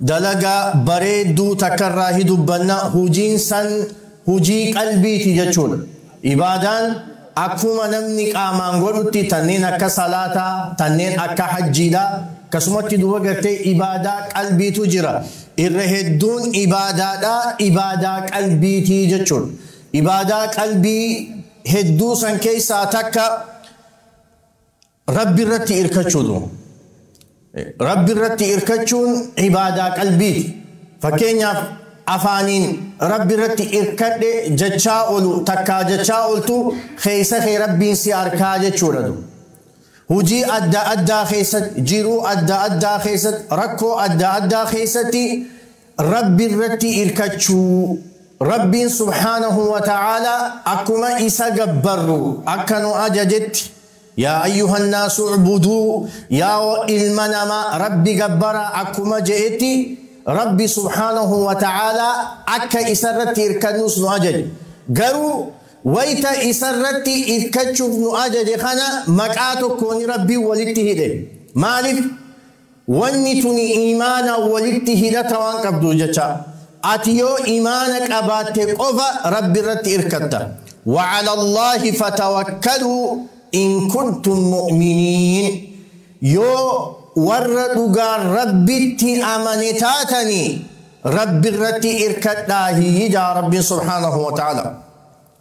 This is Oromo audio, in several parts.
Dalagaa bareedduu takka irraa hi dubbanna, hujiin san hujii qalbiiti jechuudha. Ibaadaan akkuma namni qaamaan godhutti tanneen akka salaataa, tanneen akka hajjiidha. Akkasumatti duuba gartee ibaadaa qalbiitu jira. Irra hedduun ibaadaadhaa ibaadaa qalbiiti jechuudha. Ibaadaa qalbii hedduu san keessaa takka Rabbi irratti irkachuutu. Rabbi irratti irkachuun ibaadaa qalbiiti. Fakkeenyaaf afaaniin Rabbi irratti irkadhe jechaa olu takkaa jechaa oltu keessa kee Rabbiin si arkaa jechuudha. Hujii adda addaa keessatti, jiruu adda addaa keessatti, rakkoo adda addaa keessatti Rabbi irratti irkachuu. Rabbiin subhaanahu wa ta'aalaa akkuma isa gabbarru akka nu ajajetti Yaa ayyuhannaasu u'buduu, yaa ilma namaa Rabbi gabbaraa akkuma je'etti Rabbi subhaanahu wa ta'aalaa akka isarratti irkannuus nu ajaje. Garuu wayta isarratti irkachuuf nu ajaje kana maqaa tokkooni Rabbiin walitti hidhe. Maalif? Wanni tuni iimaanaan walitti hidhata waan qabduuf jecha, ati yoo iimaana qabaatte qofa Rabbi irratti irkatta. Wa'ala Allaahi fatawakkaluu in kuntum mu'miniin. Yoo warra dhugaan Rabbitti amane taatanii, Rabbi irratti irkadhaa hiyyidaa Rabbiin subhaanahu wa ta'aalaa.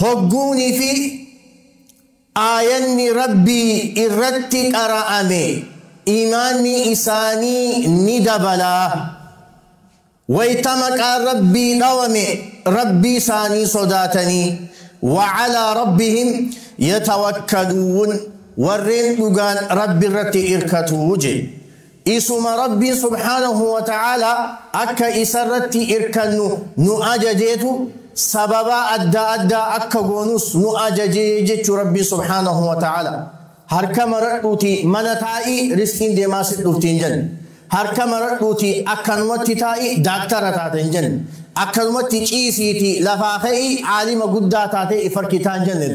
Hogguunii fi aayanni Rabbii irratti qara'ame iimaanni isaanii ni dabala. Wayta maqaan Rabbii dhawame Rabbii isaanii sodaatanii, wa alaa Rabbihim yatawakkaluun, warreen dhugaan Rabbi irratti irkatu jedhe. Isuma Rabbiin subhaanahu wa ta'aalaa akka Isarratti irkannu nu ajajeetu sababa adda addaa akka goonus nu ajaje jechuu Rabbiin subhaanahu wa ta'aalaa. Harka maradhuutii mana taa'i rizqiin deemaa sitti dhufti hin jenne. Harka maradhuutii akkanumatti taa'i daaktara taata hin jenne. Akkanumatti ciisiitii lafaa ka'i aalima guddaa taatee if harkitaa hin jenne.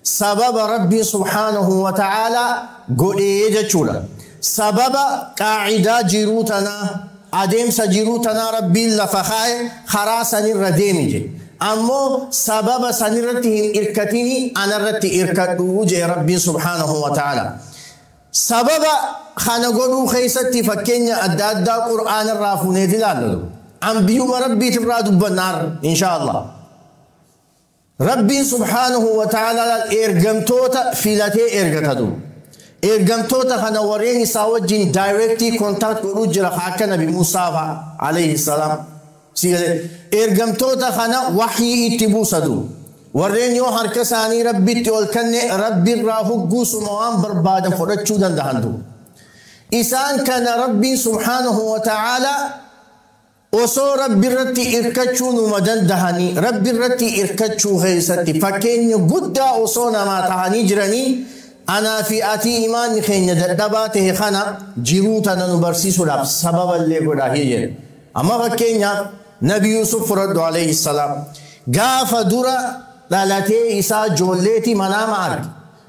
sababa Rabbiin subhaanahu wa ta'aalaa godhee jechuudha. Sababa qaa'idaa jiruu tanaa, adeemsa jiruu tanaa Rabbiin lafa kaa'e karaa sanirra deemi jedhe. Ammoo sababa sanirratti hin irkatini anarratti irkadhu jedhe Rabbiin subhaanahu wa ta'aalaa. Sababa kana godhuu keessatti fakkeenya adda addaa Qur'aanarraa fuuneet ilaalla. Anbiyuma Rabbiitirraa dubbanna har'a inshaa Allah. Rabbiin subhaanahu wa ta'aalaa ergamtoota filatee ergata du. Ergamtoota kana warreen isaa wajjin daayireektii kontaakt godhuu jira kan akka nabi Muusaa fa'a alayhi salaam. Si galee ergamtoota kana wahyii itti buusa du. Warreen yoo harka isaanii rabbitti ol kanne rabbirraa hugguusuma waan barbaadan fudhachuu dandahan du. Isaan kana rabbiin subhaanahu wa ta'aalaa Osoo Rabbi irratti irkachuu numa dandahanii Rabbi irratti irkachuu keessatti fakkeenya guddaa osoo namaa tahanii jiranii anaa fi atii imaanni keenya dadhabaa tahe kana jiruu tana nu barsiisuudhaaf sababa illee godhaa hii jedhe. Amma fakkeenyaaf Nabi Yuusuf fudhadhu alayhi salaam gaafa dura dhalatee isaa joolleeti manaama arge.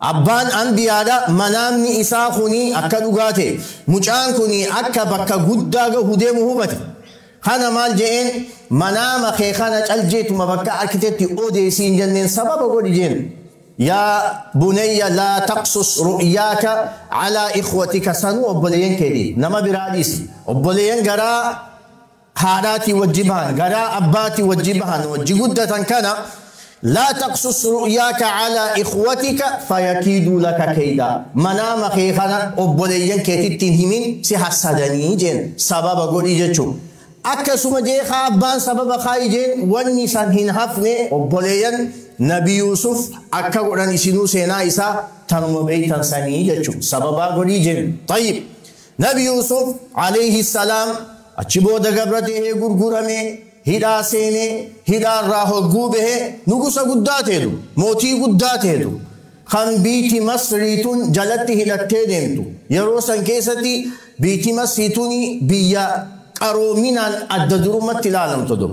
Abbaan Anbiyaadha manaamni isaa kuni akka dhugaa ta'e mucaan kuni akka bakka guddaa gahu deemu hubate. Kana maal je'een manaama kee kana cal jeetuma bakka arkitetti odeesiin jenneen sababa godhi jeen. Yaa bunayya laa taqsus ru'yaaka alaa ikhwatika sanuu obboleeyyan keeti nama biraa dhiisi obboleeyyan garaa haadhaatii wajji bahan garaa abbaatii wajji bahan wajji guddatan kana laa taqsus ru'yaaka calaa ikhwatika fayakiiduu laka keydaa manaama kee kana obboleeyyan keetitti hin himin si hassadanii jeen sababa godhi jechu akkasuma jee kaa abbaan sababa kaayi jeen wanni san hin hafne obboleeyyan nabi yuusuf akka godhan isinuu seenaa isaa tanuma beeytan sanii jechu sababaa godhii jeen tayyib Nabi Yuusuf, aleyhi salaam, achi booda gabra ta'ee gurguramee, hidhaa seenee, hidhaa irraa hogguu bahe, nugusa guddaa ta'etu, mootii guddaa ta'etu, kan biyti Masrii tun jalatti hidhattee deemtu. Yeroo san keessatti biyti Masrii tuni biyya qaroominaan adda durummatti ilaalamtu dur.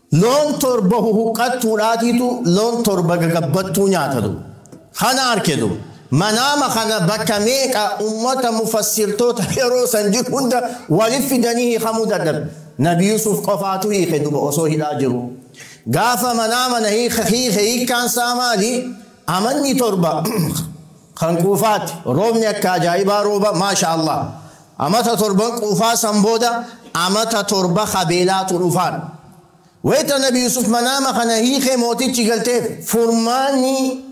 Loon torba huhuqqattuu dhaatiitu loon torba gagabbattuu nyaatadu. Kana arkedu. Manaama kana bakka meeqa ummata mufassirtoota yeroo san jiru hunda walit fidanii hiikamuu dadhabe. Nabi Yuusuf qofaatu hiike duba osoo hidhaa jiru. Gaafa manaama na hiike hiikkaan saa maali? Amanni torba kan quufaati. Roobni akka ajaa'ibaa rooba. Maasha Allah. Amata torban quufaa san booda amata torba ka beelaatu dhufaan. Wayta nabi Yuusuf manaama kana hiike mootichi galteef. Furmaanni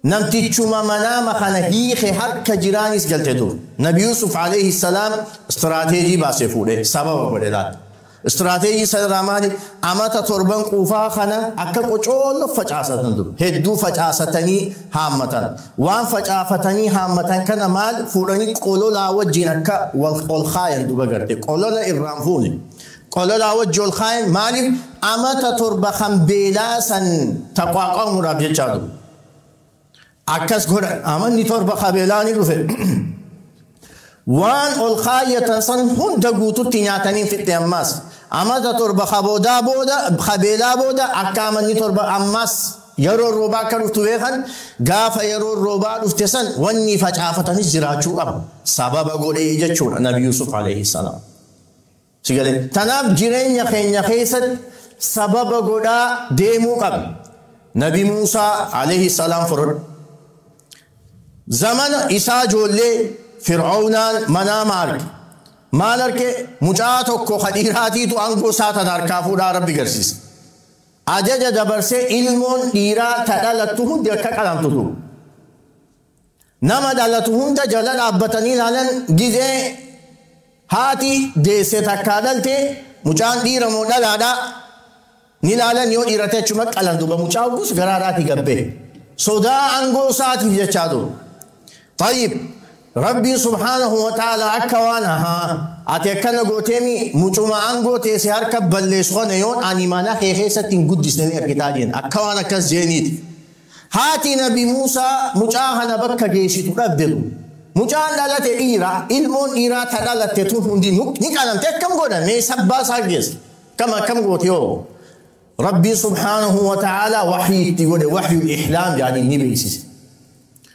namtichuma manaama kana hiike harka jiraanis galte dur. Nabi Yuusuf, aleyhi salaam, straateejii baase fuudhe. Sababa godhe laal. Istiraateejii isaa irraa maali? Amata torban quufaa kana akka qocoollo facaasatan ture. Hedduu facaasatanii haammatan. Waan facaafatanii haammatan kana maal fuudhanii qololaa wajjiin akka wal ol kaayan duba garte. Qolola irraan fuune. Qololaa wajji ol kaayan maaliif amata torba kan beelaa san taqwaaqamuudhaaf jechaa ture. Akkas godhan. Amanni torba kabeelaa ni dhufe. Waan ol kaayyatan san hunda guututti nyaatanii fixxe ammaas. Amata torba kaboodaa booda kabeelaa booda akka amanni torba ammaas yeroo roobaa akka dhuftu beekan gaafa yeroo roobaa dhufte san wanni facaafatanis jiraachuu qaba. Sababa godhee jechuudha Nabi Yuusuf alayhi salaam. Si galee? Tanaaf jireenya keenya keessatti sababa godhaa deemuu qabna. Nabi Muusaa alayhi salaam fudhadhu. Zamana isaa ijoollee Fir'awnaan manaama arge. Maal arge? Mucaa tokko ka dhiiraatiitu aangoo isaa tana harkaa fuudhaa Rabbi garsiise. Ajaja dabarsee ilmoon dhiiraa ta dhalattu hundi akka qalamtu ture. Nama dhalatu hunda jala dhaabbatanii ilaalan gizee haati deesse takkaa dhalte mucaan dhiira moo dhalaadha ni ilaalan yoo dhiira ta'e achuma qalan duuba mucaa hoggus garaa irraati gabbe sodaa angoo isaatiif jechaa dur tayyib rabbiin subhaanahu wa ta'ala akka waan ahaa ati akkana gooteemi mucuma angoo ta'e si harka balleessu kana yoon ani mana kee keessatti hin guddisne ni argitaa jeen akka waan akkas jeeniiti Haati nabi Muusaa mucaa kana bakka geessitu dhabde tun. Mucaan dhalate dhiira, ilmoon dhiiraa ta dhalatte tun hundi ni qalamte akkam godhan mee sabbaa isaa geessa. Akkam akkam gooti hoo. Rabbiin subhaanahu wa ta'aalaa wahyii itti godhe wahyul ihlaam jedhanii ni beeksise.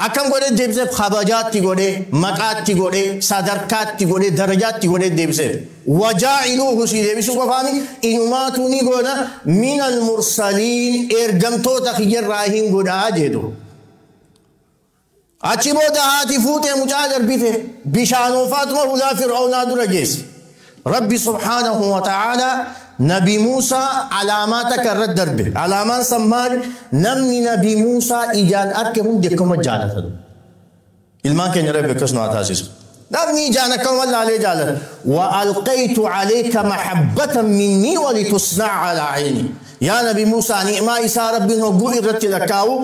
Akkam godhee deebiseef? Kabajaa itti godhee, maqaa itti godhee, sadarkaa itti godhee, darajaa itti godhee deebiseef. Wajaa'iluuhu sii deebisuu qofaa miti, inumaatuu ni goona, minal mursaliin ergamtoota kiyya irraa hin godha jee duuba. Achi booda haati fuutee mucaa darbite, bishaanoo Faaxuma hulaa Fir'awnaa dura geesse. Rabbi subhaanahu wa ta'aalaa Nabi Muusaa alaamaa takka irratti darbe. Alaamaan san maali? Namni Nabi Muusaa ijaan arke hundi akkuma jaalata. Ilmaan keenya Rabbi akkas nu haa taasisu. Namni ijaan akkuma laalee jaalata. Wa alqaytu alayka mahabbatan minnii wa litusna'a ala ayni. Yaa Nabi Muusaa ni'maa isaa Rabbiin hogguu irratti lakkaa'u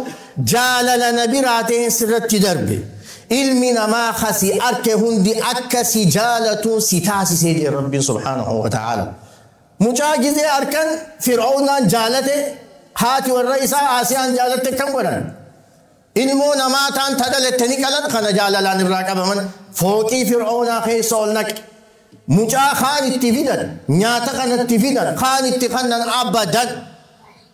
Jaalala na biraa ta'een sirratti darbe. Ilmi namaa ka si arke hundi akka si jaalatu si taasise jee Rabbiin subhaanahu wa ta'aala. Mucaa gizee arkan Fir'awnaan jaalate haati warra isaa Aasiyaan jaalatte akkam godhan? Ilmoo namaa taan ta dhalatte ni qalan kana jaalalaan irraa qabaman fooqii Fir'awnaa keessa ol naqe. Mucaa kaan itti fidan, nyaata kana itti fidan, kaan itti kannan abadan.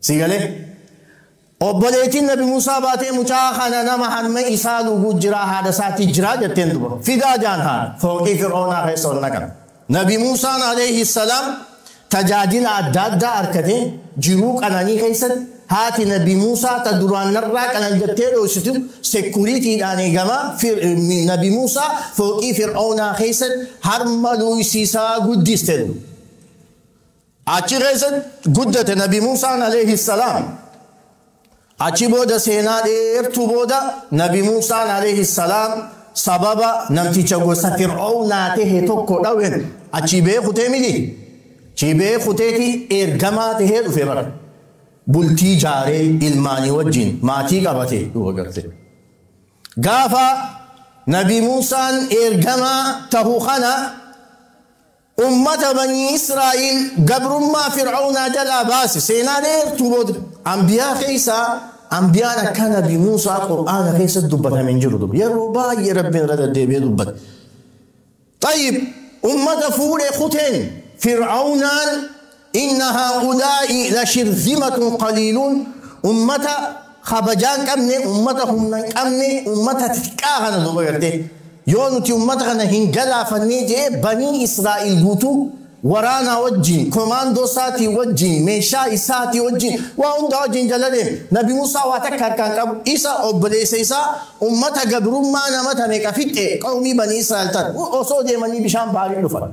Sii galee? Obboleettiin Nabi Muusaa baatee mucaa kana nama harmee isaa dhuguu jiraa haadha isaatii jiraa jetteen duba. Fidaa jaan haadha fooqii Fir'oonaa keessa ol naqan. Nabi Muusaan alayhi salaam tajaajila adda addaa arkatee jiruu qananii keessatti haati Nabi Muusaa ta duraan narraa qanan jettee dhooysitu sekuriitiidhaan eegamaa Nabi Muusaa fooqii Fir'oonaa keessatti harma luuysiisaa guddiste. Achi keessatti guddate Nabi Muusaan alayhi salaam. Achi booda seenaa dheertuu booda Nabi Muusaan alayhi salaam sababa namticha gosa Fir'oownaa tahe tokko dhawen achii ba'ee kutee miti. Achii ba'ee kuteeti ergamaa tahee dhufe bara. Bultii jaaree ilmaanii wajjin maatii qabate dhufa garte. Gaafa Nabi Muusaan ergamaa tahu kana Ummata banii Israa'iil gabrummaa Fir'awnaa jalaa baase. Seenaa dheertuu booda. Anbiyaa keessaa anbiyaan akkaa nabi Muusaa Qur'aana keessatti dubbatame hin jiru dur. Yeroo baay'ee Rabbiin irra deddeebi'ee dubbate. Xayyib, ummata fuudhee kuteen Fir'awnaan Inna haa'ulaa'i lashirzimatun qaliiluun ummata kabajaa hin qabne, ummata humna hin qabne, ummata xiqqaa kana duuba gartee. Yoo nuti ummata kana hin galaafannee jee banii Israa'iil guutuu waraanaa wajjin, komaandoo isaatii wajjin, meeshaa isaatii wajjin, waa hundaa wajjin jala deeme. Nabi Muusaa waa takka harkaa hin qabu. Isa obboleessa isaa ummata gabrummaa nama ta meeqa fixxe qawmii banii Israa'iil tan osoo deemanii bishaan Baharii dhufan.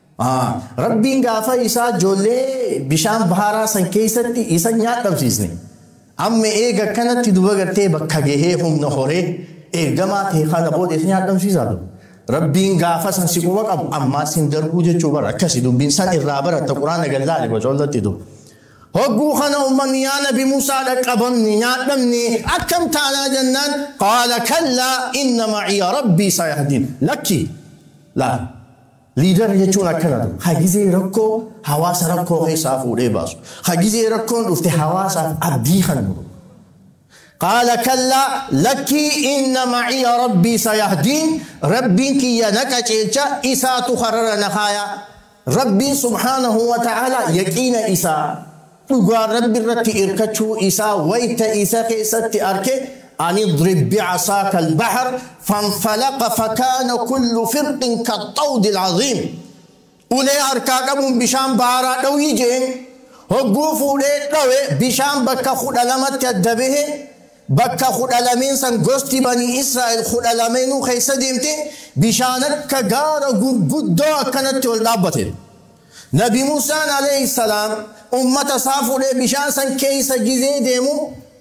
Rabbiin gaafa isaa ijoollee bishaan bahaaraa san keessatti isa nyaadhamsiisne. Amma eega akkanatti duba gartee bakka gahee humna horee ergamaa ta'e kana booda isa nyaadhamsiisaa ture. Rabbiin gaafa san si quba qabu ammaas hin darbuu jechuu bara akkasi dubbiin san irraa baratta quraana gallaale bacoollatti duba. Hogguu kana ummanni yaa nabi Musaa dhaqqabamne nyaadhamne akkam taanaa jennaan qaala kallaa inna maciya rabbii sayahdiin lakki laal. Liidara jechuun akkana tu, ka gizee rakkoo hawaasa rakkoo keessaa fuudhee baasu, ka gizee rakkoon dhufte hawaasaaf abdii kannu. Qaala kallaa, lakkii inna maciya Rabbii sayahdiin, Rabbiin kiyya na qaceelcha, isaatu karara na kaaya. Rabbiin subhaanahu wa ta'aalaa yaqiina isaa. dhugaa Rabbi irratti irkachuu isaa wayta isa keessatti arke an idrib bi'asaaka al-bahr fanfalaqa fakaana kullu firqin kaxxawdi al-aziim ulee harkaa qabuun bishaan baaraa dhawii jeen hogguu fuudhee dhawe bishaan bakka kudha lamatti adda bahe bakka kudha lameen san gosti banii Israa'el kudha lameenuu keessa deemte bishaan akka gaara gurguddoo akkanatti ol dhaabbate. Nabi Musaan aleyh salaam ummata isaa fudhee bishaan san keeysa gizee deemu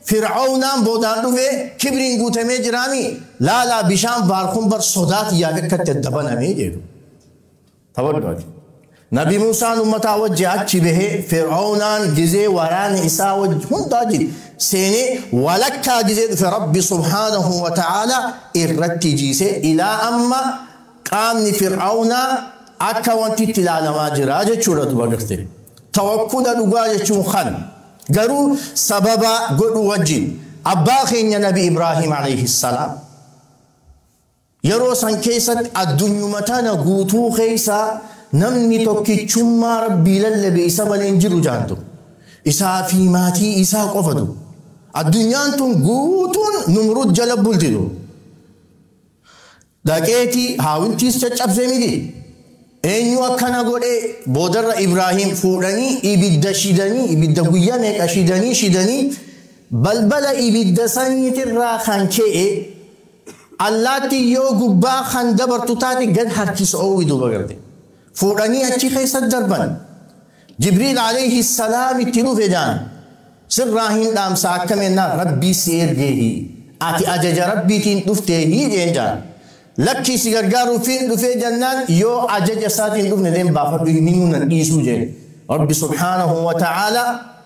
Fir'awnaan boodaan dhufee kibriin guutamee jiraami laalaa bishaan baar kun bar sodaa tiyyaaf akkatti adda baname jedhu. Tawaddu'ati. Nabi Musaan ummataa wajji achi bahee Fir'awnaan gizee waraana isaa wajji hundaa jid seenee walakkaa gizee dhufe Rabbi subhaanahu wa ta'aalaa irratti jiise ilaa amma Qaamni Fir'awnaa akka wantitti ilaalamaa jira jechuudha duba garte. Tawakkula dhugaa jechuun kana. Garuu sababa godhu wajjin. Abbaa keenya Nabi Ibraahim alayhi salaam yeroo san keessatti addunyuma tana guutuu keessaa namni tokkichummaa Rabbii lallabe isa malee hin jiru jaan ture. Isaa fi maatii isaa qofa ture. Addunyaan tun guutuun Numrud jala bulti ture. Dhaqeeti haawintiis caccabse miti. Eenyu akkana godhee boodarra Ibraahiim fuudhanii ibidda shidanii ibidda guyyaa meeqa shidanii shidanii balbala ibidda saniitirraa kan ka'e allaatti yoo gubbaa kan dabartu taate gad harkisa oowwi duuba garte. Fuudhanii achi keessa darban. Jibriil Aleeyhi salaam itti dhufe jaan sirraa hin dhaamsa akkam ennaan Rabbii si ergeehi ati ajaja Rabbiitiin dhufteehi jeen jaan lakkii si gargaaruufiin dhufee jannaan yoo ajaja isaatiin dhufne leen baafadhu hin himuu nan dhiisuu jeen Rabbi subhaanahu wa ta'aalaa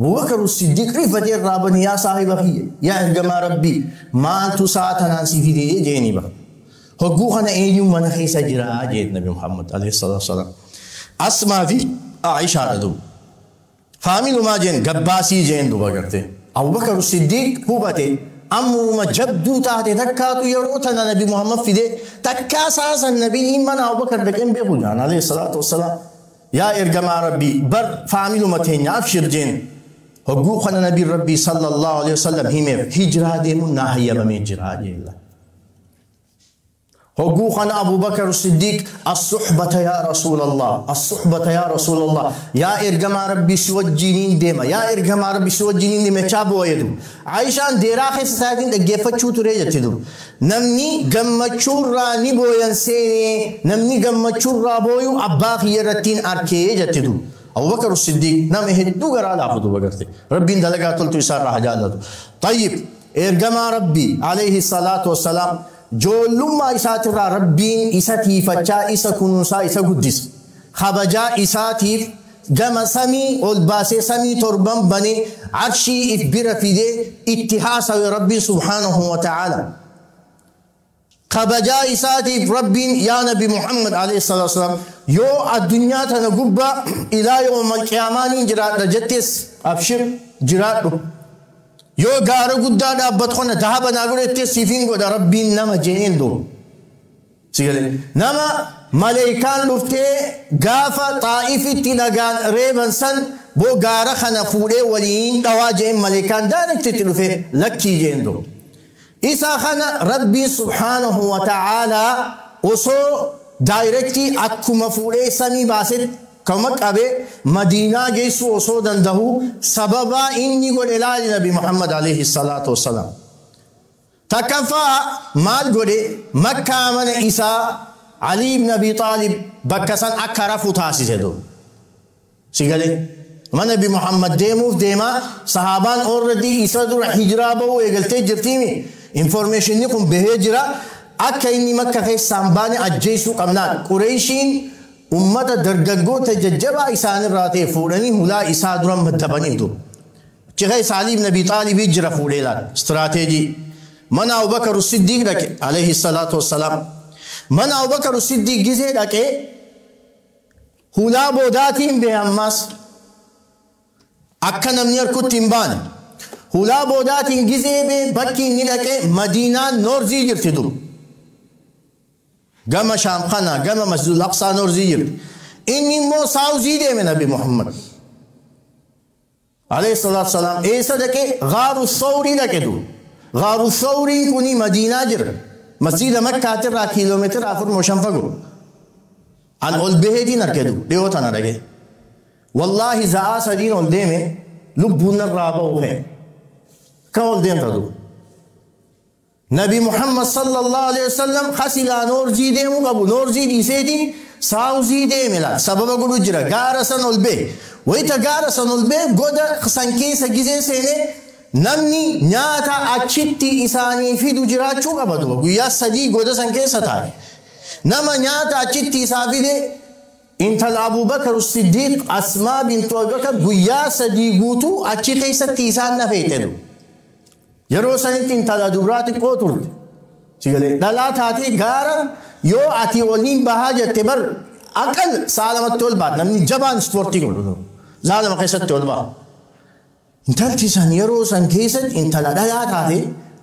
Abubakaru Siddiq rifate irraa bani yaa saahiba kiyya yaa ergamaa Rabbii maaltu sa'a tanaan si fide jeeni ba. Hogguu kana eenyuun mana keessa jira jeen Nabi Muhammad alayhi salaatu wassalaam. Asmaa fi Aishaadha duuba. Faamilumaa jeen gabbaasii jeen duuba gartee. Abubakaru Siddiq hubate amruma jabduu taate takkaatu yeroo tana Nabi Muhammad fide takkaa sa'a san Nabiin mana Abubakar dhaqeen beeku jaan alayhi salaatu wassalaam. Yaa ergamaa rabbii bar faamiluma teenya abshir jeen hogguu kana nabiin rabbii sallallahu alaihi wasallam himeef hijraa deemuun naa hayyamamee jira jeella hogguu kana abubakar siddiiq assuhbata yaa rasuulallah assuhbata yaa rasuulallah yaa ergamaa rabbii si wajjiiniin deema yaa ergamaa rabbii si wajjiiniin deema jechaa boo'ee dur aishaan deeraa keessa isaatiin dhaggeeffachuu turee jetti dur Namni gammachuurraa ni booyan seene, namni gammachuurraa booyu abbaa kiyya irrattiin arke jette duuba. Abubakar As-Siddiiq nama hedduu garaa laafu duuba garte. Rabbiin dalagaa toltuu isaarraa haa jaallatu. Xayyib, Ergamaa Rabbii, aleyhi salaatu wa salaam, joollummaa isaatirraa Rabbiin isa tiifachaa, isa kunuunsaa, isa guddise. Kabajaa isaatiif, gama samii ol baasee samii torban banee arshii if bira fidee itti haasawe Rabbiin subhaanahu wa ta'aalaa. Kabajaa isaatiif Rabbiin yaa Nabi Muhammad alayhi salaatu wassalaam yoo addunyaa tana gubbaa ilaa yawmal qiyaamaa niin jiraadha jettees abshir jiraadhu. Yoo gaara guddaa dhaabbatu kana dahaba naa godhi jettees siifin godha Rabbiin nama je'een doo. Si galee? Nama maleeykaan dhuftee gaafa Xaa'ifitti nagaan reeban san boo gaara kana fuudhee waliin dhawaa je'een maleeykaan direct itti dhufee lakkii je'een duuba. Isa kana Rabbiin subhaanahu wa ta'aalaa osoo direct akkuma fuudhee samii baasetti akkuma qabe Madiinaa geessuu osoo dandahuu sababaa inni godhe laali Nabi Muhammad alayhi salaatu wa salaam. Takkaffaa maal godhe Makkaa mana isaa Ali ibn Abi Xaalib bakka san akka rafu taasise dur. Si galee? Mana Nabi Muhammad deemuuf deema sahaabaan already isa dura hijraa bahuu eegaltee jirtiimi informationni kun bahee jira akka inni makka keessaa hin baane ajjeessuu qabnaan qureeshiin ummata dargaggoota jajjabaa isaanirraa ta'e fuudhanii hulaa isaa dura maddabanii dur. Ciraisa Ali ibn Abi Xaalibii jira fuudhee laal. Istiraateejii. Mana Abubakar Siddiiq dhaqe. Alayhi salaatu wassalaam. Mana Abubakar Siddiiq gizee dhaqee hulaa boodaatiin bee ammaas. Akka namni harkutti hin baane. Hulaa boodaatiin gizee bee bakki inni dhaqe Madiinaan Noorzii jirti dur. Gama Shaam kana gama Masjidul Aqsaa Noorzii jirti. Inni immoo Saawuzii deeme Nabi Muhammad. Alayhi salaatu salaam eessa dhaqe? Gaaru Sawrii dhaqe du. Gaaru Sawrii kuni Madiinaa jira. Masjiida Makkaatirraa kiiloomeetira afur moo shan fagoo. An ol baheetiin arge du. Dhiyoo tana dhaqe. Wallaahi za'aa sadiin ol deeme lubbuun narraa ba'u ka'e. Ka ol deemta du. Nabi Muhammad sallallahu aleyh wasallam ha silaa noorzii deemu qabu noorzii dhiiseeti saawuzii deeme laal sababa godhu jira gaara san ol bee wayta gaara san ol bee goda san keessa gizee seene namni nyaata achitti isaanii fidu jiraachuu qaba duba guyyaa sadii goda san keessa taa'e nama nyaata achitti isaa fide intala abubakar siddiiq asmaa bintu abubakar guyyaa sadii guutuu achi keessatti isaan nafeexedhu Yeroo sanitti intala dubraa xiqqoo turte. Sigalee dhalaa taatee gaara yoo ati oliin bahaa jette bar akka sa'a lamatti ol baata namni jabaan ispoortii godhu sa'a lama keessatti ol baha. Intalti san yeroo san keessatti intala dhalaa taatee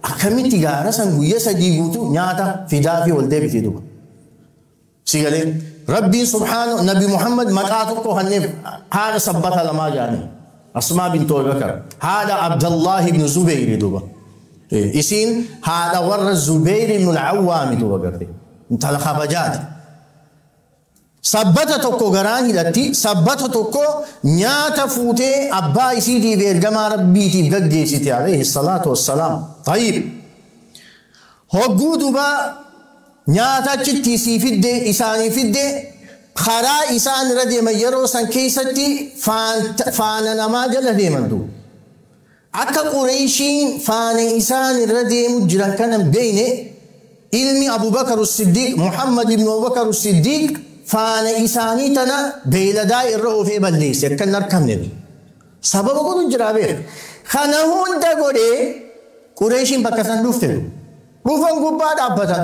akkamitti gaara san guyya sadii guutuu nyaata fidaa fi ol deebiti duba. Si galee? Rabbiin subhaanahu Nabi Muhammad maqaa tokko kanneef haadha sabbata lamaa jaanii. Asmaa bintu Abubakar. Haadha Abdallahi ibn Zubayri duuba. Isiin haadha warra Zubayri ibn al-Awwaami duuba garte. Intala kabajaati. Sabbata tokko garaan hidhatti, sabbata tokko nyaata fuutee abbaa isiitiif ergamaa Rabbiitiif gaggeessite alayhi salaatu wassalaam. Tayyib. Hogguu duuba Nyaata achitti isii fidde, isaanii fidde, karaa isaan irra deeman yeroo san keessatti faana namaa jala deeman duuba. Akka Qureeyshiin faana isaan irra deemu jiran kana hin beeyne, ilmi Abu Bakar As-Siddiiq, Muhammad ibn Abu Bakar As-Siddiiq faana isaanii tana beeyladaa irra oofee balleeyse, akka hin arkamne. Sababa godhu jira beekha. Kana hunda godhee Qureeyshiin bakka san dhufte. Dhufan gubbaa dhaabbatan.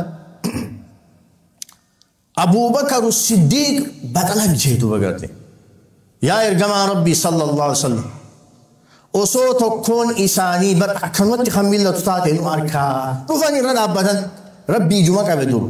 Abuubakar Siddiiq baxala bilchee duuba garte. Yaa ergamaa Rabbii sallallahu alaihi wasallam. Osoo tokkoon isaanii bar akkanumatti kan mil'atu taate nu arkaa. Dhufan irra dhaabbatan. Rabbii ijuma qabe duuba.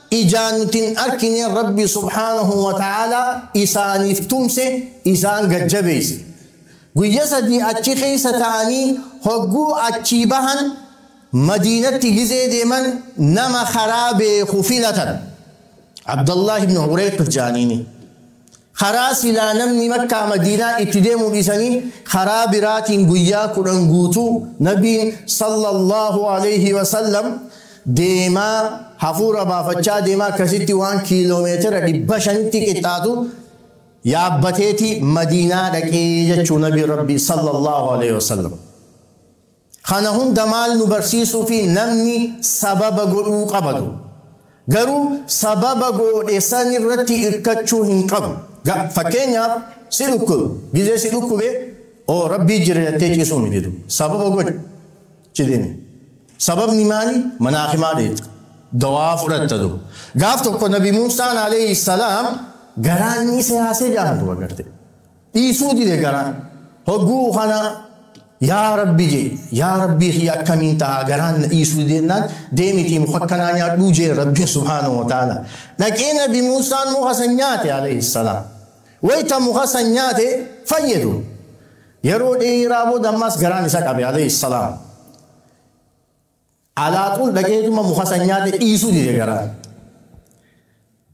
ijaan nuti hin arkineen Rabbi subhaanahu wa ta'aalaa isaaniif tumse isaan gad jabeeyse. Guyya sadii achi keeysa ta'anii hogguu achii bahan Madiinatti gizee deeman nama karaa beekhu filatan. Abdallaah ibn Ureyqit ja'aniini. Karaa silaa namni Makkaa Madiinaa itti deemu dhiisanii karaa biraatiin guyyaa 10 guutuu Nabiin, Sallallaahu aleyhi wa sallam, deemaa, hafuura baafachaa deemaa akkasitti waan kiiloomeetira 500tti qixxaatu yaabbateeti Madiinaa dhaqee jechuu Nabiin Rabbii, Sallallaahu aleyhi wa sallam. Kana hunda maal nu barsiisuufi namni sababa godhuu qabadu. Garuu sababa goodhe san irratti irkachuu hin qabu. Ga, fakkeenyaaf si dhukkube, gizee si dhukkube oo rabbii jira jattee ciisuu hin didu. Sababa godhi. Ci demi. Sababni maali? Mana hakimaa deetta. Dawaa fudhatta du. Gaaf tokko nabi Muusaan alayhi salaam garaan ni seyaase jaan duba garte. dhiisuu dide garaan. Hogguu kana yaa rabbi jee yaa rabbii kiyya akkamiin tahaa garaan na dhiisuu dide jennaan deemitii muka akkanaa nyaadhuu jee rabbiin subhaanahu wa ta'aala. Dhaqee nabi Muusaan muka san nyaate alayhi salaam. Wayta muka san nyaate fayye ture. Yeroo dheeraa booda ammaas garaan isa qabe alayhi salaam. Alaaquun dhaqeetuma muka san nyaate dhiisuu dide garaan.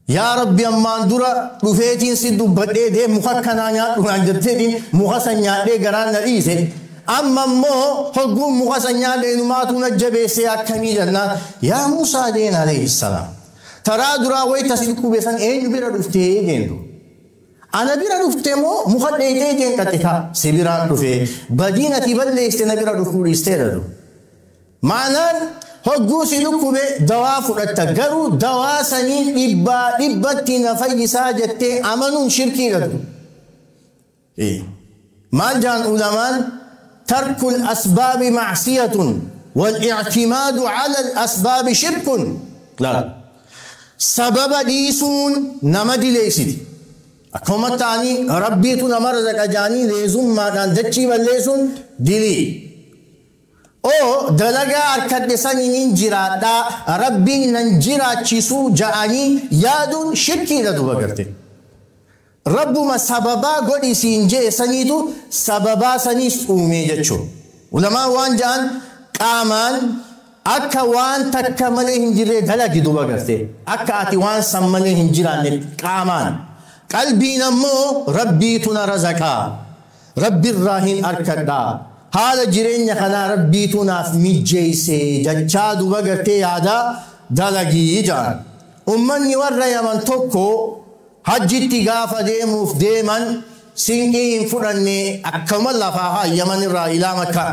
Yaa Rabbi ammaan dura dhufeetiin si dubbadhee deem muka akkanaa nyaadhu naan jetteetiin muka san nyaadhee garaan na dhiise. Amma immoo hogguun muka san nyaadhe inumaatu na jabeessee akkamii jennaan yaa Muusaa deen alayhi salaam. Taraa duraa wayta si dhukkube san eenyu bira dhuftee deen dura. Ana bira dhufte moo muka dheeyxee deen qaxxitaa si biraan dhufee badiin ati balleeyste na bira dhufuu dhiisteedha dura. Maanaan hogguu si dhukkube dawaa fudhatta garuu dawaa saniin dhibbaa dhibbatti na fayyisaa jettee amanuun shirkiidha du, i. Maal jaan ulamaan tarkul asbaabi macsiyatun wal ictimaadu calal asbaabi shirkun laal sababa dhiisuun nama dileeysiti akkuma ta'anii rabbiitu nama razaqa jaanii leezummaadhaan dachii balleeysuun dilii. o Dalagaa arkadhe saninin jiraadha Rabbiin nan jiraachisu ja'anii yaaduun shirkiidha duba garte. Rabbuma sababaa godhi siin je'e saniitu sababaa saniis uumee jechu. Ulamaan waan ja'an qaamaan akka waan takka malee hin jirree dalagi duba garte. Akka ati waan san malee hin jiraannetti qaamaan. Qalbiin ammoo Rabbiitu na razaqaa. Rabbi irraa hin arkadha. Haala jireenya kanaa Rabbiitu naaf mijjeeyse jachaa duba gartee yaada dalagi ja'an. Ummanni warra Yaman tokko hajjitti gaafa deemuuf deeman sinqii hin fudhanne akkuma lafaa haa Yaman irraa ilaa Makkaa.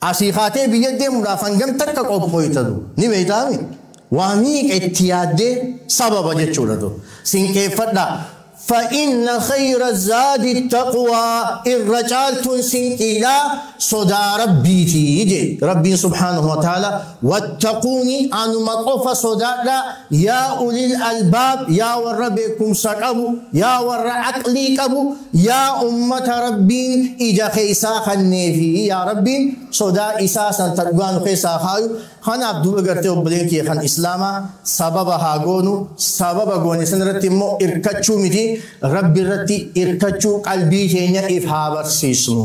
Asii kaatee biyya deemuudhaaf hangam takka qophooyta du? Ni beeytaa mi? Waa miiqa itti yaaddee sababa jechuudha du? Sinqeeffadhaa. Fa inna khayra zaadi taqwaa irra caaltuun sinqiidhaa sodaa Rabbiiti jee. Rabbiin subhaanahu wa ta'aalaa wattaquunii anuma qofa sodaadhaa Yaa ulil albaab yaa warra beekkumsa qabu yaa warra aqlii qabu yaa ummata Rabbiin ija keessaa kanneefi yaa Rabbiin sodaa isaa san ta dhugaa nu keessaa haa kaayu kanaaf duuba gartee obboleen kiyya kan islaamaa sababa haa goonu sababa goone san irratti immoo irkachuu miti Rabbi irratti irkachuu qalbii keenya if haa barsiisnu